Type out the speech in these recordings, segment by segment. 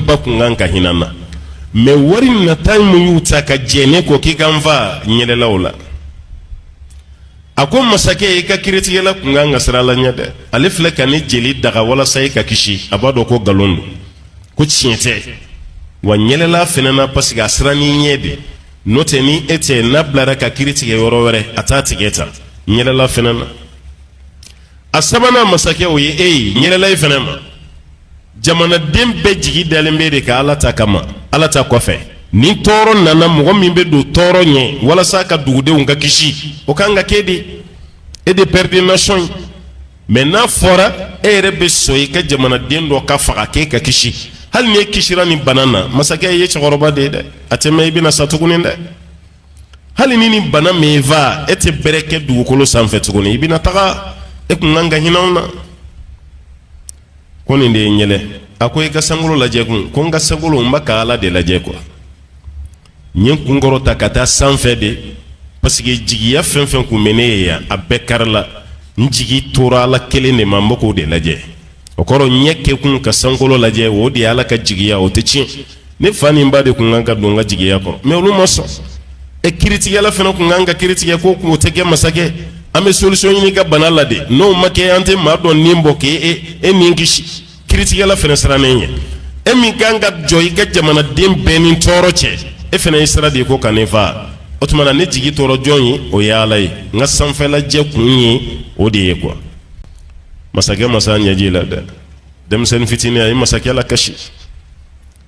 ba kun kan ka hinɛ n na mɛ wari nata min y'u ta ka jɛn ne kɔ k'i ka n fa n yɛlɛla u la a ko masakɛ i ka kiritigɛla kun kan ka siran ala ɲɛ dɛ ale filɛ ka ne jeli daga walasa i ka kisi a b'a dɔn ko nkalon don ko tiɲɛ tɛ wa n yɛlɛla a fɛnɛ na paseke a sirann'i ɲɛ de n'o tɛ ni e tɛ n'a bilara ka kiri tigɛ yɔrɔ wɛrɛ a t'a tigɛ tan n yɛlɛla a fɛnɛ na a sabanan masakɛ o ye e ye n yɛlɛla i fana ma jamanaden bɛɛ jigi dalen bɛ e de kan ala ta kama ala ta kɔfɛ ni tɔɔrɔ nana mɔgɔ min bɛ don tɔɔrɔ ɲɛ walasa a ka dugudenw ka kisi o ka kan ka kɛ de e de père de nation ye mɛ n'a fɔra e yɛrɛ bɛ sɔn i ka jamanaden dɔ ka faga k'e ka kisi hali ni e kisira nin bana na masakɛ i ye cɛkɔrɔba de ye dɛ a tɛ mɛɛn i bɛna sa tuguni dɛ hali ni nin bana m'i fa e tɛ bɛrɛ kɛ dugukolo sanfɛ tuguni i bɛna taga e kun kan ka hinɛ anw na ko nin de ye n yɛlɛ a ko i ka sankolo lajɛ kun ko n ka sankolo n bɛ ka ala de lajɛ kuwa n ye n kun kɔrɔta ka taa sanfɛ de parce que jigiya fɛn fɛn kun bɛ ne ye yan a bɛɛ karila n jigi tora ala kelen de ma n bɛ k'o de lajɛ o kɔrɔ ɲɛ kɛkun ka sankolo lajɛ o de ye ala ka jigiya o tɛ tiɲɛ ne fa ni n ba de tun kan ka don n ka jigiya kɔrɔ mɛ olu ma sɔn e kiritigɛla fana tun kan ka kiri tigɛ ko k'o tɛ kɛ masakɛ an bɛ solisɔn ɲini i ka bana la de n'o ma kɛ an tɛ maa dɔ ni bɔ k'e e e ni kisi kiritigɛla fana sirannen ye e min kan ka jɔ i ka jamanaden bɛɛ ni tɔɔrɔ cɛ e fana ye sira di ko ka ne fa o tuma na ne jigi tora jɔn ye o ye ala ye n ka sanfɛlajɛ kun ye o de ye kuwa masakɛ ma s'a ɲɛji la dɛ denmisɛnnin fitinin a ye masakɛ lakasi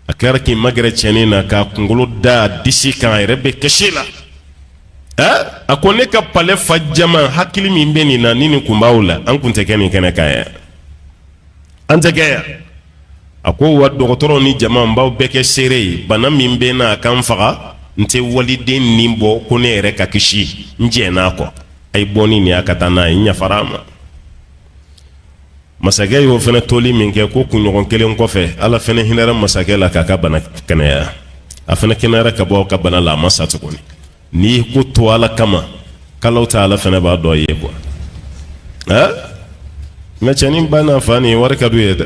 a kɛra k'i magɛrɛ cɛnin na k'a kunkolo da a disi kan a yɛrɛ bɛ kasi la a ko ne ka palɛ fa jama hakili min bɛ nin na ni nin kun b'aw la an kun tɛ kɛ nin kɛnɛ kan yan an tɛ kɛ yan a ko wa dɔgɔtɔrɔ ni jama n b'aw bɛɛ kɛ seere ye bana min bɛ n na a ka n faga n tɛ waliden ni bɔ ko ne yɛrɛ ka kisi n jɛnna a kɔ a ye bɔ ni nin y'a ka taa n'a ye n yafara a ma masakɛ y'o fana toli min kɛ ko kunɲɔgɔn kelen kɔfɛ ala fana hinɛra masakɛ la k'a ka bana kɛnɛya a fana kɛnɛyara ka bɔ a ka bana la a ma sa tuguni n'i ye ko to ala kama kalo ta ala fana b'a to i ye kuwa mɛ cɛnin ba n'a fa nin wari ka d'u ye dɛ